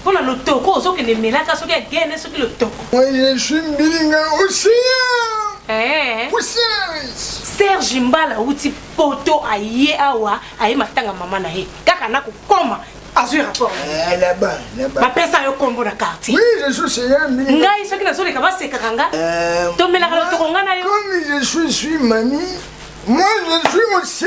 mpona lotoko ozokende melaka soki agene soki lotoko oyeswi mbilinga osiya eh. serge mbala auti poto aye awa aye matanga mama na ye kaka na kokoma azwi rapport eh, bapesa yo kombo na quartier ngai soki nazoleka basekaka nga eh, tomelaka lotoko nga na yo moi je suis aussi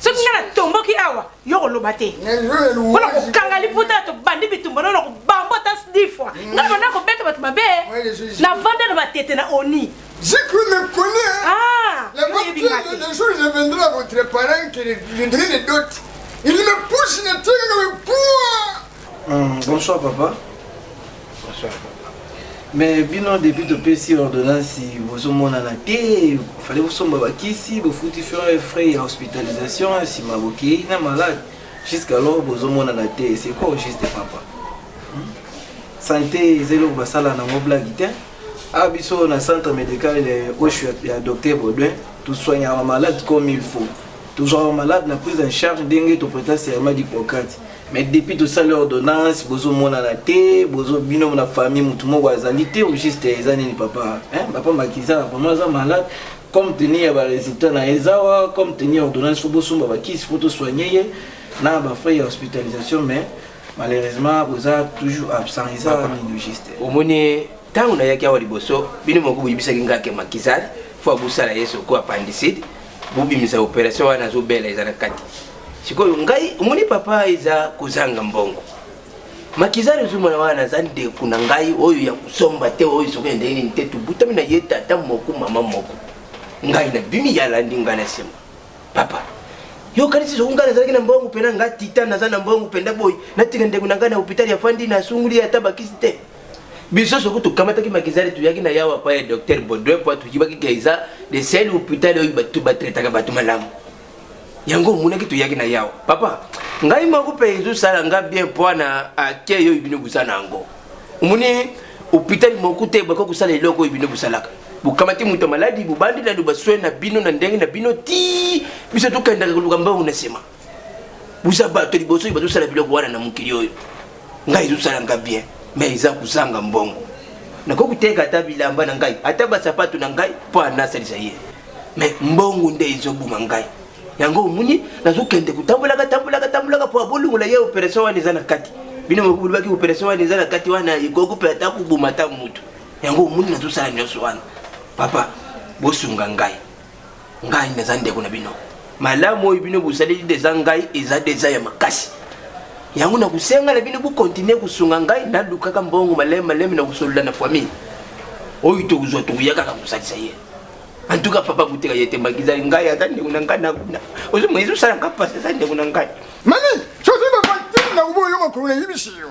soki nga natomboki awa yo koloba te mpona kokanga liputa ya tobandi bitumba nao na kobambo ata di fois mm. nga banda kobeta bato mabe na vanda na batete na oni J'ai cru me connaître. Ah, la voiture, le jour où je viendrai à votre parent qui viendrait les dots, il me pousse, il me tire, il me poids. Hum, bonsoir, papa. mais bino depuis topesi ordonnance bozomonana te fale bosomba bakisi bofuti frais frais ya hospitalisation nsima bokei na malade jusqu'alors bozomonana te c'est quoi au juste papa hmm? santé eza eloko basala nango blague te a ah, biso na centre médical oshu ya docteur baudouin tosoignaka malade comme il faut tozwaka malade na prise en charge ndenge topreta serment d'hippocrate mais depuis tosali ordonnance bozomonana te bozo bino na famille motu moko azali te au juste eza nini papa hein? papa makizana vraiment aza malade comme teni ya baresultat na ye zawa comme teni ya ordonnance fo bosomba bakisi fo tosoigne ye na bafrai ya hospitalisation mais malheureusement boza toujours absent eza nini juste omoni ntango nayaki awa liboso bino moko boyebisaki ngai ke makizari fo abosala ye soko apandiside bobimisa operation wana azobela eza na kati sikoyo ngai omoni papa eza kozanga mbongo makizari ozomona wana aza ndeko na ngai oyo ya kosomba te oyo soki ndenge nini te tobutami na ye tata moko mama moko ngai na bimi ya landi ngai na nsima papa yokanisi soki ngai nazalaki na mbongo mpena ngai tita naza na mbongo mpenda boye natika ndeko na ngai na hopitali ya fandi nasunguli ye ata bakisi te biso soki tokamataki makizari toyaki na yawa pa ya docteur baudouin po toyibaki ke eza de sel hôpital oyo bato batretaka bato malamu yango omonaki toyaki na yawa papa ngai moko mpe ezosala nga bien mpoana ake oyo bino boza na yango omoni hopitali moko te bakoki kosala eloko oyo bino bosalaka bokamati moto ya maladi bobandi nano baswai na bino na ndenge na bino ti biso tokendaka koluka mbango na nsima boza bato liboso oyo bazosala biloko wana na mokili oyo ngai ezosala nga bien mais eza kozanga mbongo nakoki koteka ata bilamba na ngai ata basapato na ngai mpo anasalisa ye mais mbongo nde ezobuma ngai yango omoni nazokende kotambolaka tambolaka tambolaka mpo abolongola ye operation wana eza na kati bino mokolobaki operation wana eza na kati wana ekoki mpe ata koboma ata motu yango omoni nazosala nyonso wana papa bosunga ngai ngai naza ndeko na bino malamu oyo bino bosaleli deza ngai eza deza ya makasi yango na kosenga na bino bokontinue kosunga ngai nalukaka mbongo maleme maleme na kosolola na famille oyo tokozwa tokoya kaka kosalisa ye en tout cas papa boteka ye te mbakizali ngai aza ndeko na ngai nakuna ozomona ezosala ngai mpasi aza ndeko na ngai mani soki bapatina oboyoka kolona yebisi yo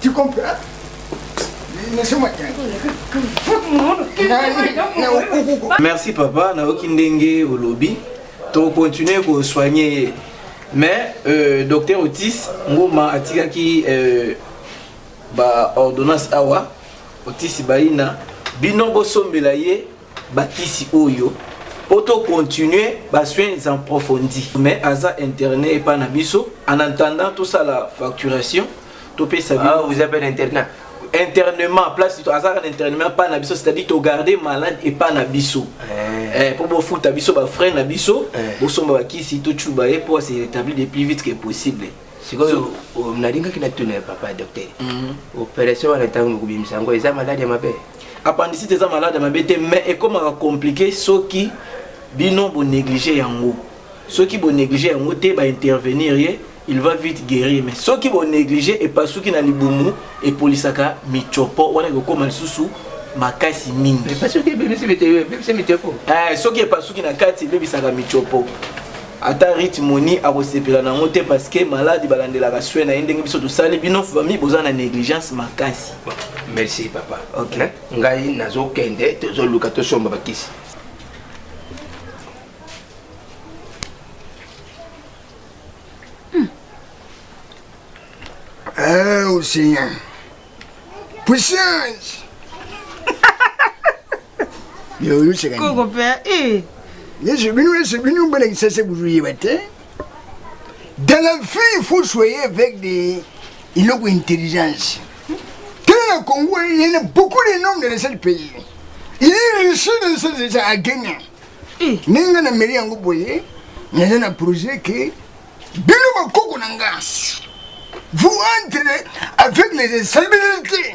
Tu comprends? Laissez-moi Merci papa, naoki ndenge olobi. To continuer ko soigner ye. Mais euh, docteur Otis ngoma atikaki euh, ba ordonnance awa Otis Baina bino bosombela ye bakisi oyo po to continuer ba soins en profondi mais aza internet epa na biso en attendant tosala facturation topesa ah, vous appelle internet internement place azalaka na internement epai na biso c'est-à-dire togarde malade epai na biso eh. Eh, mpo bofuta biso bafrai na biso eh. bosomba bakisi tocuba ye mpo ase rétabli de plus vite que possible sikoyo nalingaki natuna ya papa docteur mhm. opération wana ntango mokobimisa yango eza maladi ya mabe Appendicite eza malade mabe te mais ekomaka compliqué soki bino bo négliger yango. Soki bo négliger yango te ba intervenir ye il va vite guérir mais soki bo négliger epasuki na libumu epolisaka michopo wana ekokoma lisusu makasi mingi eh, soki epasuki na kati ebebisaka michopo ata rite moni akosepela na yango te parce que maladi balandelaka swe na ye ndenge biso tosali bino fami boza na négligence makasi merci papa okay. Eh, ngai nazokende tozoluka tosomba bakisi hmm. eh, Oh Seigneur, puissance koko mpe eh. yesu bino yesu bino bolakisa se kuzoyeba te dans la vie il faut soyer avec des eloko intelligence tala na congo il y a beaucoup de noms de la seul pays il est riche de ça déjà à gagner eh. ndenge nga na meli yango boye naza na projet ke bino bakoko na nga vous entrez avec les instabilités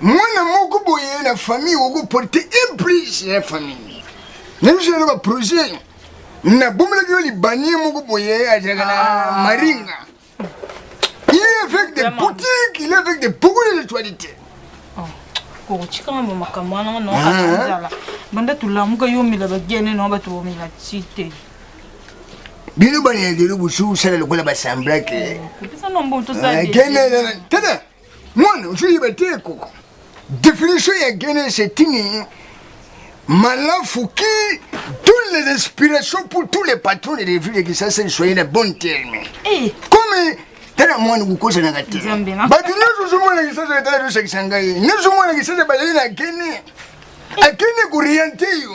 mwana moko boye na famille okoporte implice ya famille nabiso na baprojet nabomelaki yo libanie moko boye azalaka na ah. maringa il est avec des boutiques il est avec des beaucoup de ritualité oh, kokotika ngambo makambo wana ngo naoanzala ah. banda tolamuka yo omela bagene nao bato bomela ti te bino bana ya lelo bosu osala lokola basamblake eh, tena mwana ozoyeba te koko definition ya genese etini malafu ki toutes les inspirations pour tous les patrons de revue de kisasa esoye na bon terme eh. comme tala mwana kokosanaka te bato nyonso ozomona kisasa etala tosakisa ngai nyonso omona kisasa bazali na gene akende koriente yo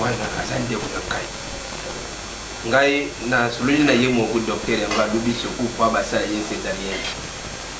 wana aza ndeko na ngai ngai nasololi na ye moko docteur yango alobi sokufa basala ye cesarienne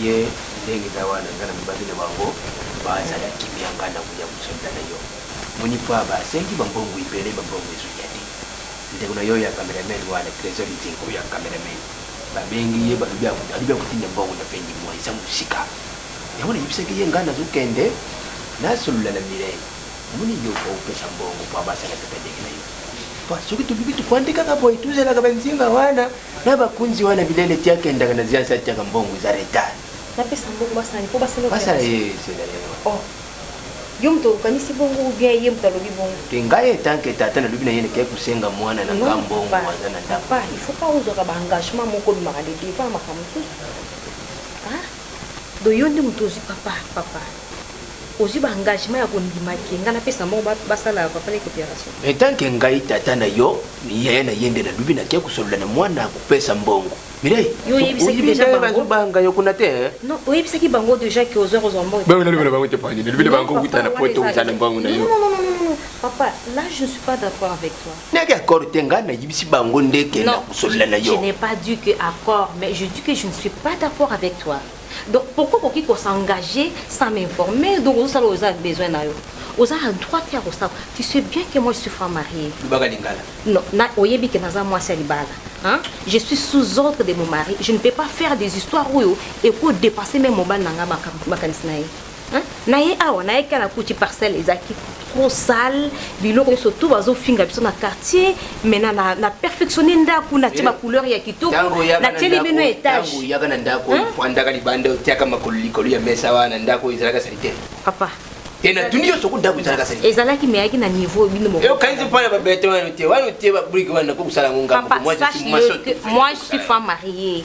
Ye ndenge na wana nga na lobaki na bango ba zala kimia nga na koya kosoda na yo moni pa ba sengi ba mbongo ebele ba mbongo ezo ya te ndeko na yo ya cameraman wana tresor liting oyo ya cameraman ba bengi ye ba lobi alobi ako tinda mbongo na fin du mois eza musika yango na yebisaki ye nga nazo kende na solola na Mireille omoni yo po opesa mbongo po ba sala tata ndenge na yo po soki to lobi to fandi kaka boye to zalaka ba nzinga wana na bakunzi wana bilele ti akendaka na ziansi atiaka mbongo eza retard napesa mbongo basani mpo basala basala ye esela ye oh. yo moto okanisi bongo ubien ye moto alobi bongo te ngai etanke tata nalobi na ye nekei kosenga mwana na nga mbongo aza na ndapa il faut pas ozwaka baengagement moko obimaka de devant makambo mosusu ah? do yo nde moto ozwi papa papa ozui ba engagement ya kondima ke ngai napesa mbongo basala ya papa leki operation etanke ngai tata na yo yaya na ye nde nalobi na tia kosolola na mwana kopesa mbongo mireibanga yo kuna te oyebisaki bango deja ke ozwa kozwa mbongonalobela bango te pani nalobela bango kuta na poto oza na mbongo na yo Papa, là je ne suis pas d'accord avec toi. N'est d'accord te nga na yibisi bango ndeke na kosolola na yo. Je n'ai pas dit que accord, mais je dis que je ne suis pas d'accord avec toi. donc pourquoi okoki ko s'engager sans m'informer donc ozosala oyo oza besoin na yo oza na droit te ya kosala tu sais bien que moi je suis femme mariée lobaka lingala non na oyebi ke naza mwasi ya libala Hein? Je suis sous ordre de mon mari. Je ne peux pas faire des histoires où il faut dépasser même mon ban nanga makanisi na ye. Hein? Na ye awa na ye kana kuti parcelle ezaki trop sale biloko nyonso tout bazofinga biso na quartier mais na, na, na perfectionne ndako natie bacouleur ya kitoko natieli bino étage yaka na ndako fandaka libanda otiaka makolo likolo ya mesa wana ndako ezalaka salite papa te natuni yo soki ndako ezalaka sali ezalaki meyaki na niveau bino mokokanisi mpo na babeton wana te wana otie babrike wana nakokosala yango ngambo moi je suis femme mariée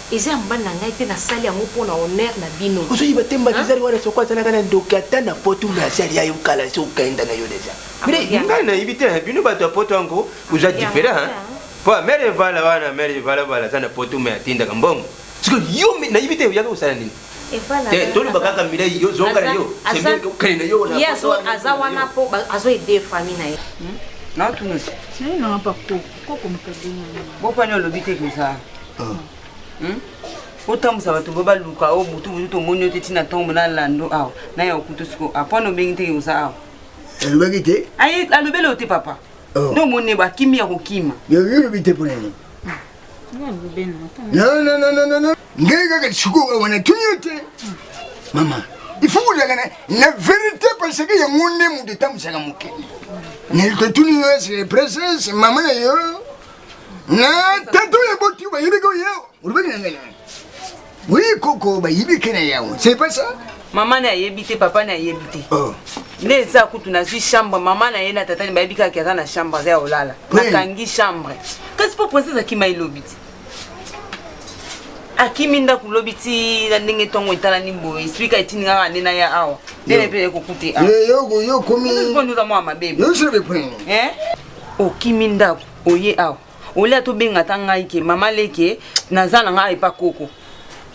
Eza ya mobali na ngai te na sali yango pona honneur na bino. Ozo yiba te mbadizari wana soko azalaka na ndoki ata na poto mais asi alia yo kala esi okenda na yo deja. Mire ngai na yibi te hein, bino bato ya poto yango boza different hein. Po ya mere evala wana mere evala vala aza na poto mais atindaka mbongo. Siko yo na yibi te oyaka kosala nini? Te toloba kaka mire yo zonga na yo. C'est bien okende na yo na poto wana. Aza wana po azo aider famille na ye. Non tunisi. Tiens na pako. bopani olobi te koza ah. hmm? otambusa bato bo baluka o oh, butu butu tomoni yo te ntina ntongo na lando awa na ya okutu siko apwana obengi te koza awa alobaki te alobeli yo te papa oh. nde omoni ne bakimi ya kokima yobi te mpo na nini non non non non non ngai kaka sikoyo awa natuni yo te mama ifo kozalaka na verité parce que yango nde moto etambwisaka mokili natuni yo ese presence mama na yo na tata oyo eboti yo bayebeki oyo yawa olobaki na ngai na oui koko bayebiki na yawa c'est pas ça mama na ayebi te papa na ayebi te oh. nde eza kutu nazwi chambre mama na ye na tata ni bayebi kaka aza na chambre aza ya olala nakangi chambre kasi mpo princese akima elobi te akimi ndako lobi ti na ndenge ntongo etalani boye esplika etindi nga kaka nde naya awa nde na mpe ekokute awaokomiza mwa mabe eh? okimi ndako oye awa olia tobenga ta ngai ke mama leke naza na ngai epa koko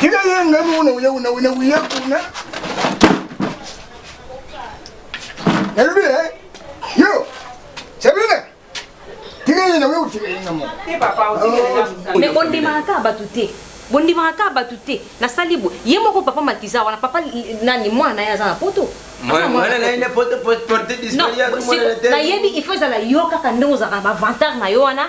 Kila yeye ngani una uya una una uya kuna. Nalubi eh. Yo. Sabina. Kila yeye na wewe utika yeye ngamo. Te papa utika yeye ngamo. Me ondima ka batu te. bondimaka kaka bato te nasali boye ye moko papa makiza wana papa nani mwana na ye aza na poto nayebi il faut ezala yo kaka ndenge ozalaka na bavantage na yo wana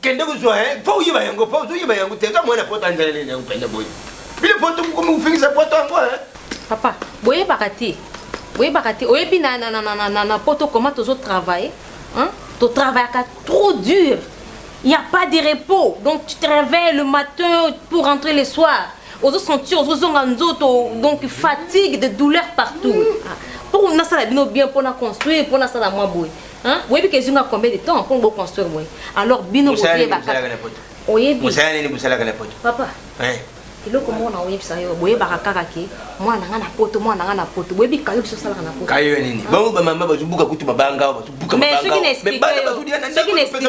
kende kozwa eh, mpo oyeba yango mpo ozoyeba yango te eza mwana poto anzela nini yango mpenza boye bino poto mokomi kofingisa poto yango eh. papa boyebaka te boyebaka te oyebi na, na, na, na, na, na poto koma tozotravaille hein? totravaillaka trop dur il n'y a pas de repos donc tu te réveilles le matin pour rentrer le soir ozosentir ozozonga nzoto donc fatigue de douleur partout ah, mpo nasala bino bien mpo na construire mpo nasala mwa boye Hein? Boyebi que ezonga combien de temps pour bo construire boye? Alors bino vous avez ba Oyebi. Vous avez nini musala kana poto? Papa. Hein? eloko moko na oyebisa yo boyebaka kaka ke mwana na ngai na poto mwana na ngai na poto boyebi kayo biso osalaka na poto kayo ya nini bango bamama bazobuka kutu mabanga bazobuka mabanga mais soki na explike yo soki na explike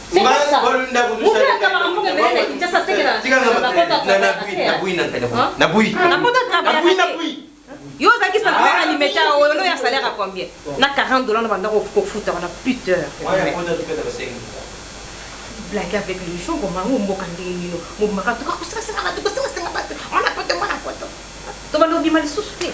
yo ozalaki salarié na limeta oyo no ya salaire ya combien na 40 dollars na banda kofuta wana puteur blague avec le jour omango mboka ndenge nino mobimaka tuka kosengasenga bato kosengasenga bato mwana poto mwana poto Tobanda kobima lisusu te.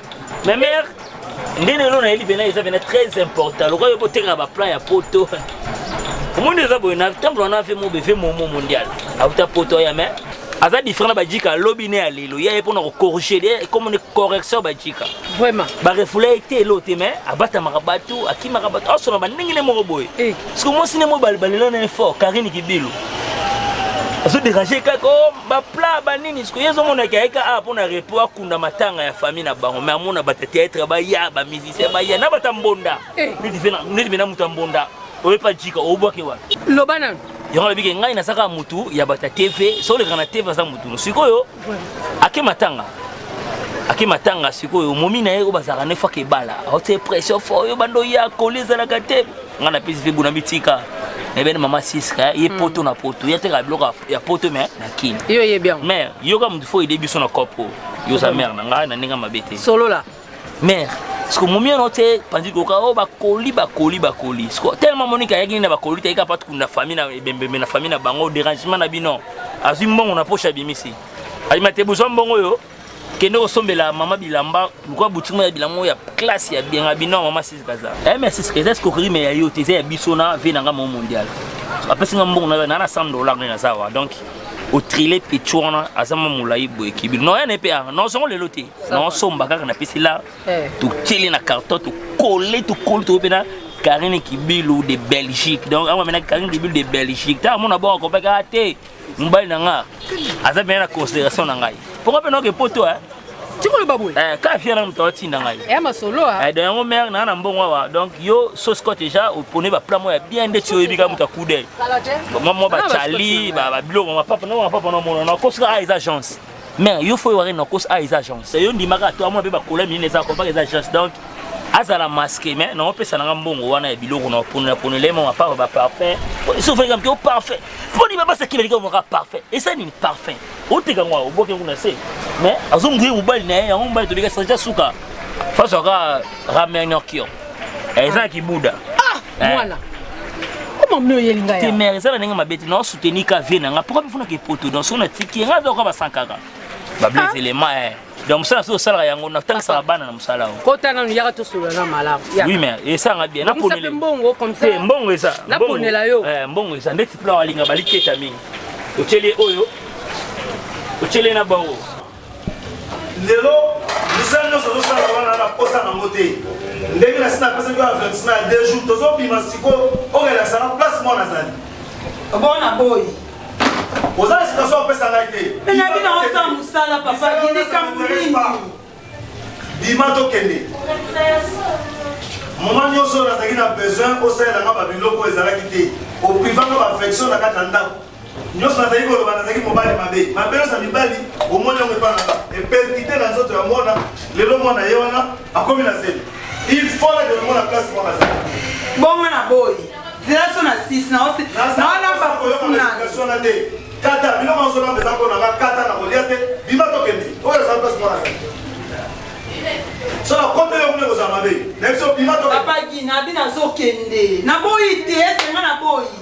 Mais mère, nde lelo nayeli mpena eza mpena très important lokola yo botekaka baplan ya poto omoni eza boye na temple wana ve mobe ve momo mondial auta poto ya mai aza différent na bajika alobi ne ya lelo ya ye mpona kocorrige de komone correction bajika vraiment barefula ye te elo te mai abatamaka bato akimaka bato asona bandenge ne moko boye eh. soki mwasi ne moko balela na ye fort karine kibilu azoderange kaka ba plat ba nini siko yezo mona ki ayeka a pona repo akunda matanga ya famille na bango mais amona bata théâtre ba ya ba musicien ba ya na bata mbonda eh. neti fena neti mena muta mbonda oyepa jika obwake wa loba na yango na bike ngai nasaka mutu ya bata tv so oleka na tv aza mutu sikoyo ake matanga ake matanga sikoyo momi na ye oyo bazalaka ne faka ebala aotie pression fo oyo bando ya koli ezalaka te nga na pesi vebu na bitika nayebani mama siska ye hmm. poto na poto ye ateka biloko ya poto me na kin yo oyebi yango mare yoka motu fo ede biso na cope oyo yoza mare na ngai na ndenge mabe te solola mare siko momi ono te panzi koka o oh, bakoli bakoli bakoli siko tellement monika ayaki nini na bakoli te yeka patu kuna famille na ebembembe na famille na bango derangement na bino azwi mbongo na poche abimisi alima te bozwa mbongo oyo kende kosombela mama bilamba luka boutique moko ya bilamba moko ya classe ya bienga bino mama sisi kaza eh mais sisi kaza escroquerie mais ya yo te eza ya biso na vie na nga mo mondial apesi nga mbongo na na na 100 dollars na za wa donc otrile petit wana aza mwa molai boye kibi no yana mpe aa nozongo lelo te naosomba kaka napesi la eh. totieli na carton tokole tokoli toko mpe na Karine Kibilu de Belgique. Donc, on amène Karine Kibilu de Belgique. T'as mon abord, on peut gâter. mobali na nga aza bien na consideration na ngai mpo nga mpe naoke poto eh. tikoloba boye eh, kaka fiere na moto atinda ngai ya eh, masolo ah. eh, don yango mare naa na mbongo awa donc yo sosco déjà opone bapla moko ya bien nde ti oyebi kaka moto akude mwa bacali babiloko mapapa na mapapa na omona na kosika a eza agence mais yo fo wari na kos a eza agence yo ndimaka to amona pe ba kola minene eza compaka eza agence donc azala masque mais na opesa na mbongo wana ya biloko na pona pona le mama papa ba parfait so fo ngam ko parfait fo ni baba sakile liko mo parfait et ça ni parfait o te kangwa o boke kuna se mais azo nguye mobali na ye yango mobali to bika sanja suka face aka ramener kio eza kibuda ah eh. mwana mama mne oyeli ngai te mère eza na ndenge mabe te na soutenir ka vie na nga pourquoi bifuna ke poto donc sona tiki nga aza kwa basankaka ba bleu ah. élément eh donc mosala soki osalaka yango natangisaka bana na mosala yango kota nanu yaka tosolola na malamu oui mais esanga bien naponele mbongo comme ça eh, mbongo eza naponela yo eh, mbongo eza ndeti plan alinga baliteta mingi otyeli oyo otyeli na bango lelo misala nyonso tozosala wana na posa nango te ndenge nasi napesaki yo avertissement ya deux jours tozobima sikoyo okelakisa na place moko nazali bona boyi oza na situation opesa ngai te nayebi na osa mosala papa likambo nini bima tokende moma nyonso oyo nazalaki na besoin osalela nga babiloko ezalaki te oprivanga baaffection na kati ya ndako nyonso nazali koloba nazalaki mobali mabe mabe nyonso ya mibali omoni yango epa nanga eperkite na nzoto ya mwana lelo mwana ye wana akomi na zemi il faut na demona place mwana azali bongo na boyi zela so na 6 naolamba kosunana te kata biloko nyonso nanga eza mpo nanga kata na kolia te bima tokende oyo azali place mwana azali so na kote yo kuna ekozala mabe na biso bima tokende papa gina abi nazokende naboyi te esenga naboyi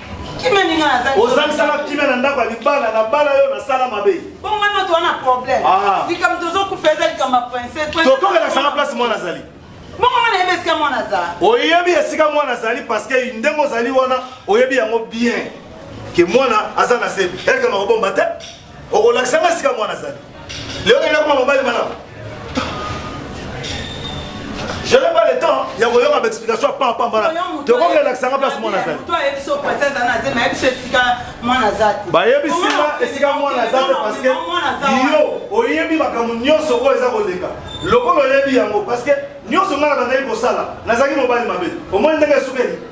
kimia ninga naza ozangisaka kimia na ndako ya libala na bala yo nasala mabe bongo ngai moto wana problème ah. likambo tozokufa eza likambo ya prince tokokelakisaka place mwana azali bongo ngai nayebi esika mwana azali oyebi esika mwana azali parceke ndenge ozali wana oyebi yango bien ke mwana aza na se elkama kobomba te okolakisa nga sika mwana azali leo ngai nakoma mobali malamu je n'ai pas le temps ya koyoka baexplication pampambala tokoki elakisa nga place mwana azali bayebisi nga esika mwana aza te parceke yo oyebi makambo nyonso oyo eza koleka lokola oyebi yango parceke nyonso ngai na bandaki kosala nazalaki mobali mabe omoni ndenge esukeli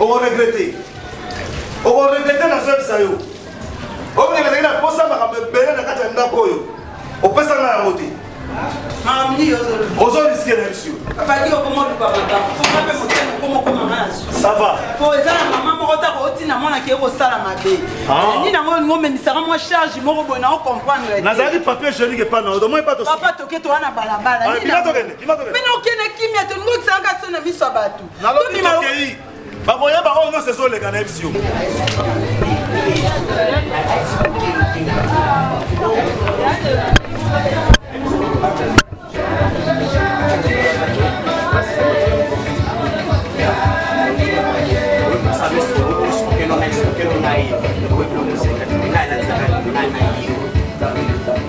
Oko regretter. Oko regretter na zebisa yo. Oko regretter na posa makambo ebele na kati ya ndako oyo. Opesa nga yango te. Ozo risquer na biso. Abaki okoma luka makambo. Koma pe motema okoma okoma maso. Ça va. Po eza na mama moko ta ko tina mwana ke ko sala mabe. Ah. Ni na ngo ngo memisaka mwa charge moko boye na ko comprendre te. Nazali papier jolique pa na odo moi pa to. Papa toke to wana balabala. Ni na. Bino kende kimia to ngo tsanga sona miso ya bato. bakoyeba oyo nyonso ezoleka na yebisi yo Thank you.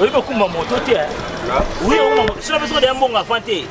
oyebi okumba moto te wi okumba moto sina biso deya mbongo avant te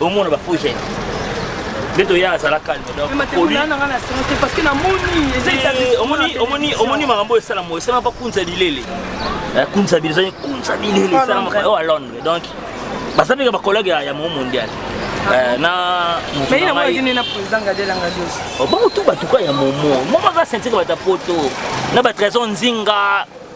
omona ba faux jeunes nde toya azala calme omoni makambo oyo esalama esalama mpa kunza bilele eh, kunza bilele ezali kunza bilele esalamaka oyo a londres donc baza mpe ba collègue ya mo mondial eh, na bango oh, tu batuka ya momo momo aza sentika bata poto na batrésor nzinga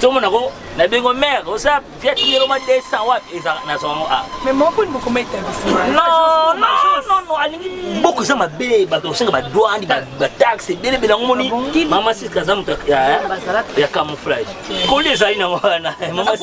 Tomo na ko na bengo mère oza viet ngelo ma 200 wapi eza na zongo a. Mais mon poni boko meta bisi. Non non non non alingi boko za mabe ba to senga ba douane ba ba taxe bele bele ngo moni. Ah mama sis kaza muta ya ya camouflage. Koli ezali na wana. Mama sis.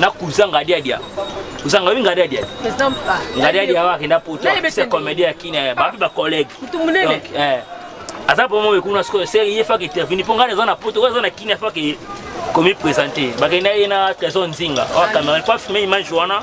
na kuza ngadiadia ozanga oyi ngadiadia ngadiadia awa akenda poto se comédie ya kina ya babi bacollègue eh. aza mpo moyo kuna sikoyo se ye faka interveni mpo ngai eza na poto oyo eza na kina faka komi présente bakenda ye na trésor nzinga oyo cameron mpo afime image wana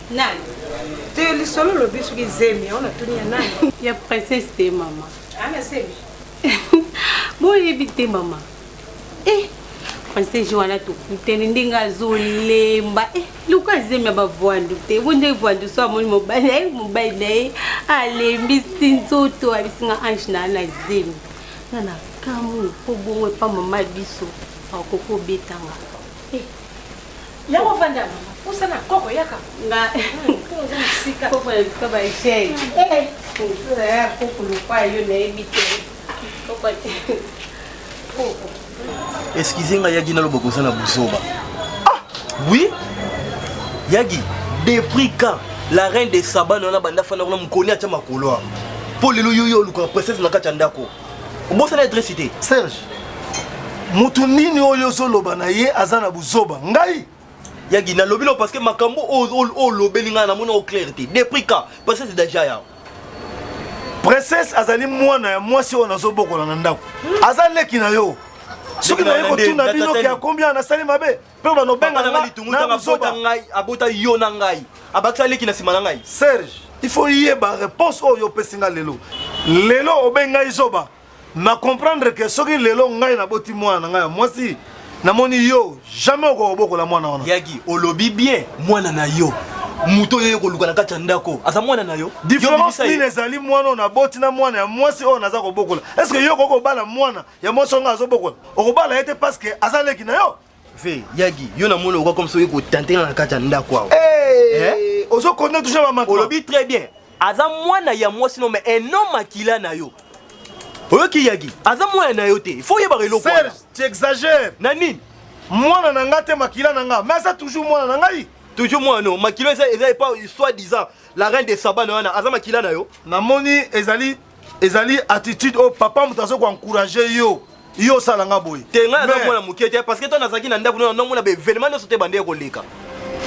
Nani? Te lisolo lobi soki zemi yango natuni ya nani? Ya princesse te mama. Ana ah, zemi. Boyebi te mama. Eh, princesse wana tokutani ndenge azolemba eh, luka zemi ya bavwandu te bo ndenge vwandu so amoni mobali na ye mobali na ye alembisi nzoto abisinga ange na na zemi nga na kamwe mpo bongo epa mama biso akoki obetanga eh. Yango vanda mama, posa na koko yaka. Nga. Mpo oza mosika. Koko ya bika ba echei. Eh, mpo na ya koko lokwa yo nayebi te. Koko te. Koko. Excusez nga yagi naloba koza na buzoba. Ah, oui. Yagi, depuis quand la reine de Saba na banda fana kuna mukoni atia makolo. Mpo lelo yo yo oluka princesse na kati ya ndako. obosana adresse te serge motu nini oyo ozoloba na ye aza na buzoba ngai yagi nalobi no parce que makambo olobeli ngai namoni o clair te depuis quand parce que c'est déjà yao princesse azali mwana ya mwasi oyo nazobokola na ndako aza leki na yo soki naye kotuna bino ke akombia nasali mabe mpe banobengana ngai litungu ntango abota ngai abota yo na ngai abakisa leki na nsima na ngai serge il faut yeba réponse oyo opesi ngai lelo lelo obengi ngai zoba na comprendre ke soki lelo ngai naboti mwana na ngai ya mwasi namoni yo jamais okokobokola mwana wana yaki olobi bien mwana na yo moto oyo koluka na kati ya ndako aza mwana na yo diference nini ezali mwana oyo naboti na mwana ya mwasi oyo naza kobokola estce yo okoki kobala mwana ya mwasi wanga azobokola okobala ye te parceke aza leki na yo ve yagi yo na moni okoka komsoki kotantena na kati ya ndako awa eh? ozokonde touche bamako olobi très bien aza mwana ya mwasi no mais un homme akila na yo oyoki yagi aza mwana na yo te il faut oyebaka eloko serge tu exagère na nini mwana na nga te makila na nga mais aza toujours mwana na ngai toujours mwana no makila eza eza epa soit disant la reine de saba na wana aza makila na yo namoni ezali ezali attitude oyo papa moto azoki encourage yo yo osala nga boye te ngai naza mwana moke te parce que ntango nazalaki na ndako nao namona baevenement nyonso te bande ya koleka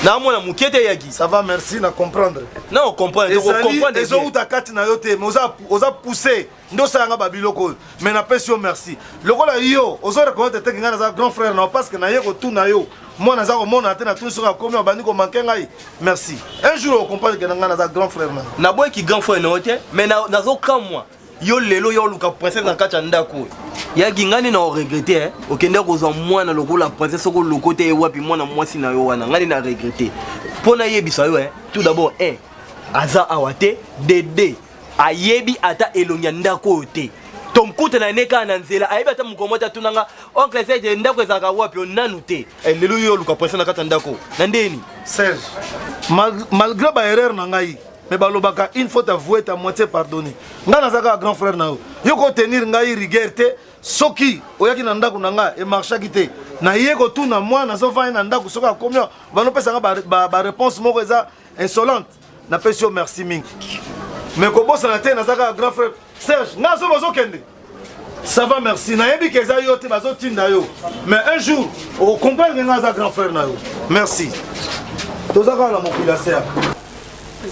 na mwana moke te yaki ça va merci na comprendre na ocomprendre ocomprendre ezowuta kati na yo te mais oza, oza pousse nde osala nga babiloko oyo mais napesi yo merci lokola yo ozo reconnaître teke ngai naza grand frère na yo parce que naye kotuna yo mwana aza komona te na tuni soki akomi abandi komanke ngai merci un jour ocomprendre ke na ngai naza grand frère na naboyi ki grand frère na yo te mais nazokamwa yo lelo ya oluka princesse na kati ya ndako oyo yaki ngai nde na oregrete eh. okende kozwa mwana lokola princesse soko loko te ewapi mwana mwasi na yo wana ngai nde na regrete mpo nayebisa yo eh. tout d'abord un eh, aza awa te dede ayebi ata elongi ya ndako oyo te tomkutana ne kaka na nzela ayebi ata mokomo te atunanga oncle sete ndako ezalaka wapi onanu te Eh, lelo yo oluka pression na kati ya ndako na ndeni serge malgré ba erreur na ngai mais balobaka une faute avouée ta moitié pardonné ngai naza kaka grand frère na yo yo kotenir ngai rigueur te soki oyaki na ndako na ngai emarchaki te naye kotuna mwana azovandi na ndako soki akomi banopesaka bareponse moko eza insolente napesi yo merci mingi mais kobosana te naza kaka grand frère serge nga so bazokende ça va merci nayebi ke eza yo te bazotinda yo mais un jour okomprendre nga aza grand frère na yo merci toza kaka na mokili ya serge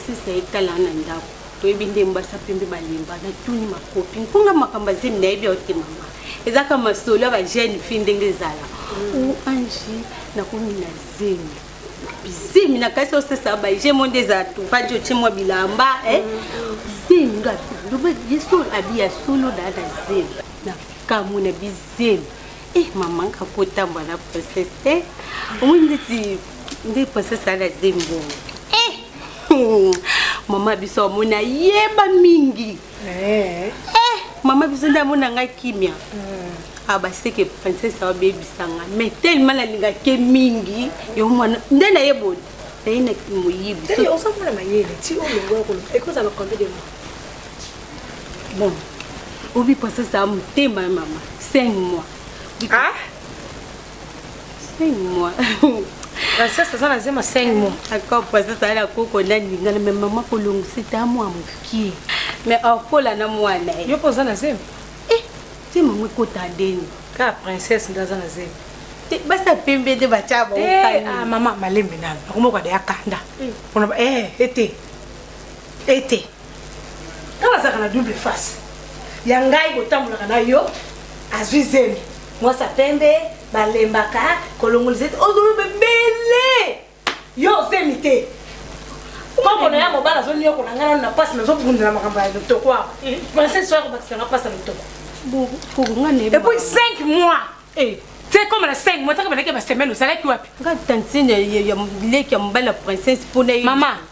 sisa etala na ndako toyebi nde mbasa pembe balemba natuni makopi nkonga makambo azemi nayebi yo te mama ezaka masolo ya bajeune fille ndenge ezala o ange nakomi na zemi zemi na kasi osesa bai je mo nde eza tupaji otie mwa bilamba eh? zemi nga loba yesu abi ya solo na na zemi na kamwe na bizemi eh mama nga kotamba na princesse te omoni ndeti nde princesse ala zemi bongo eh mama biso amona yeba mingi Eh. eh mama biso nde amona ngai kimia hmm. abaseke ah, princesse abebisanga mais tellement nalingaki mingi yo mwana nde naye boni naye na moyibi ozamona mayele ti olongo ya koloba ekozala combien de mois bon obi princesse a motema ya mama 5 mois ah? 5 mois princesse aza na zema 5 mois ako princesse ayala koko na ningana me mama kolongisa ete amwa mokie me akola na mwana ye yo mpo oza na zema e eh, ti mama ekota ndeni kaka princesse nde aza na zema te basi ya pembe nde batya baokani ah, mama malembe nanu akomoko adeyakanda mpona eh, ete ete kaka azalaka na double face ya ngai botambolaka na yo azwi zemi mwasa pembe balembaka kolongolisa ete ozoloba ebele yo ozemi te koko na ya mobali azoniokola ngai nano na mpasi nazobundela makambo ya lotoko awa princese soya kobakisa nga mpasi ya lotoko epuis 5 mois eh. te koma na 5 mois taka balaki ya basemaine ozalaki wapi nga tantine ya bileki ya mobali ya princese mpona mama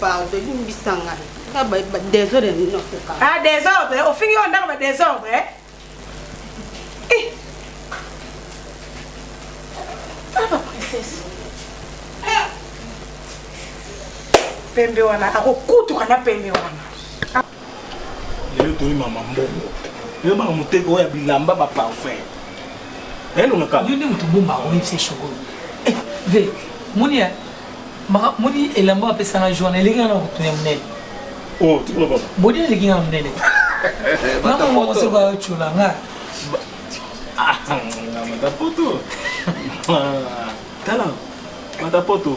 Pardon, limbisa ngai. Nga ba ba desordre nini okoka? Ah desordre, ofingi yo ndako ba desordre. Eh? Eh. Ah ba princesse. Eh. Pembe wana akokutuka na pembe wana. lelo toyi mama mbongo lelo mama moteka oyo ya bilamba ba parfum elongaka yo nde moto bomba oyebisa shokolo eh, ve moni ya moni elamba apesanga joana eleki nga na kotuna ya monene oh, bodi eleki nga na monene mama moko soko ayotyola nga ah, matapoto tala matapoto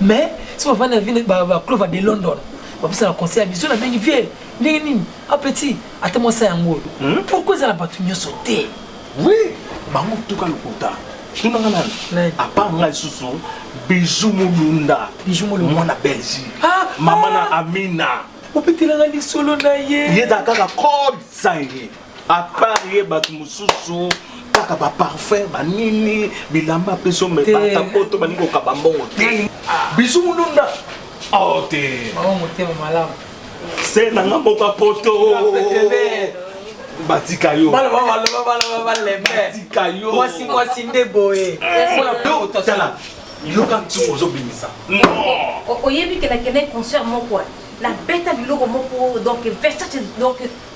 mais si on va na ville ba ba clova de london ba pesa la conseil biso na bengi vie ndenge nini a petit ata moi ça yango hmm? pourquoi ça la batu nyoso te oui bango tuka lokuta tunanga nani apa ngai susu bijou mulunda bijou mulunda mwana belgique ah, mama na ah. amina opetelanga lisolo na ye ye ezala kaka code sange à part ye bato mosusu kaka ba parfum ba nini bilamba apesi yo mais bata poto balingi kokaba mbongo te bisu mulunda oh te bango motema malamu se na nga mboka poto batika yo batika yo mwasi mwasi nde boye tala yoka ntumu ozobimisa oyebi ke nakende concert moko nabeta biloko moko donc versace donc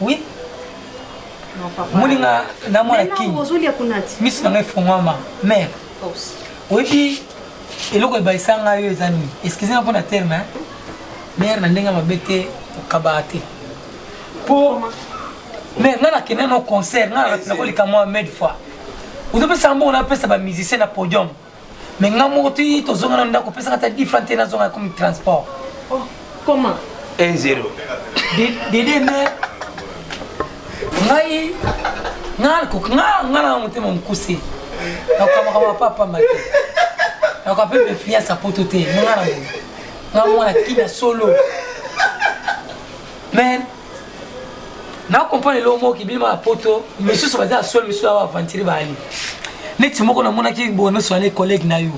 Oui. Non papa. Muninga na mwana king. Mais non, ozoli ya kunati. Misu na ngai fongwama. Mère. Pause. Oyebi eloko ebayisa ngai yo eza nini? Excusez moi mpona terme hein. Mère na ndenge mabe te okabaka te. Po mais ngai nakende na concert ngai nakolika mwa mille fois. Ozopesa mbongo napesa ba musicien na podium. mais nga moko ti tozonga na ndako pesaka ata different te nazonga comme transport oh, comment 1 0 dede me ngai nga na motema mokuse nakokamaka mapa pamba te nakoka mpe mefiance ya poto te nga na nga mwana kina solo mais na comprendre eloko moko kibima ya poto misusu baza ya solo misusu awa aventire baali neti moko namonaki bonoso wana collègue na yo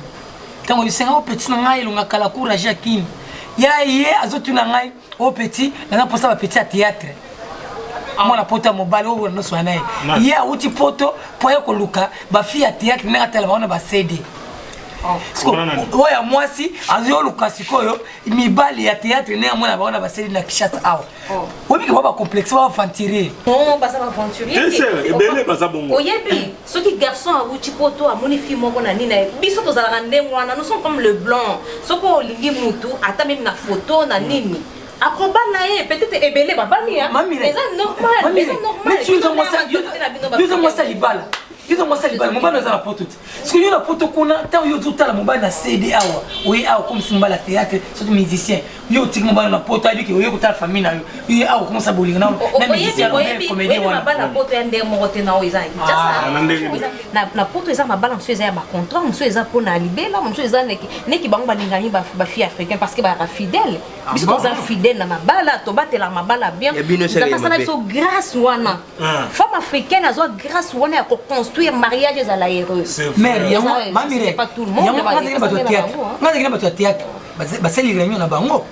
ntango bisenga o oh, petit na ngai elonga kala courage ya kini ya ye azotuna ngai o oh, petit naza mposa bapetit ya théâtre ah. mwana poto ya mobali oyo noso wana ye ye awuti poto mpo aye koluka bafille ya théâtre ndenge atala bango na basede oh. oyo ya mwasi azoluka sikoyo mibali ya théâtre ne amona bango na baseli na Kinshasa awa oh. oyebi kaba bacomplexe ba aventurier non baza baaventuriebele baza bongo oyebi soki garçon awuti poto amoni fille moko na nini na ye biso tozalaka ndenge wana nous sommes comme le blanc soki olingi mutu ata meme na photo na nini mm. akoba na ye peut-être ebele babami eza normaleza normalyoza mwasi ya libala yoza mwasi ya libala mobali aza na poto te soki yo na poto kuna ntango yo ozotala mobali na cd awa oye awa okomisi mobali ya théâtre soki musicien yo otiki mobali na poto ayebi ke oye kotala famille na yo oye awa okomisa bolingo na musiciencomédien wanabana poto ya ndenge moko te na oyo eza na poto eza mabala mosusu eza ya bacontrant mosusu eza mpo na libela mosusu eza neki bango balingani bafille africain parce que bayaka fidèle biso toza fidèle na mabala tobatela mabala bien eza basala biso grâce wana Ah. femme africaine azwa grâce wana ya koconstruire mariage ezala heureux mare yango mamire yango nazali na bato ya théâtre nazali na bato ya théâtre basali réunion na bango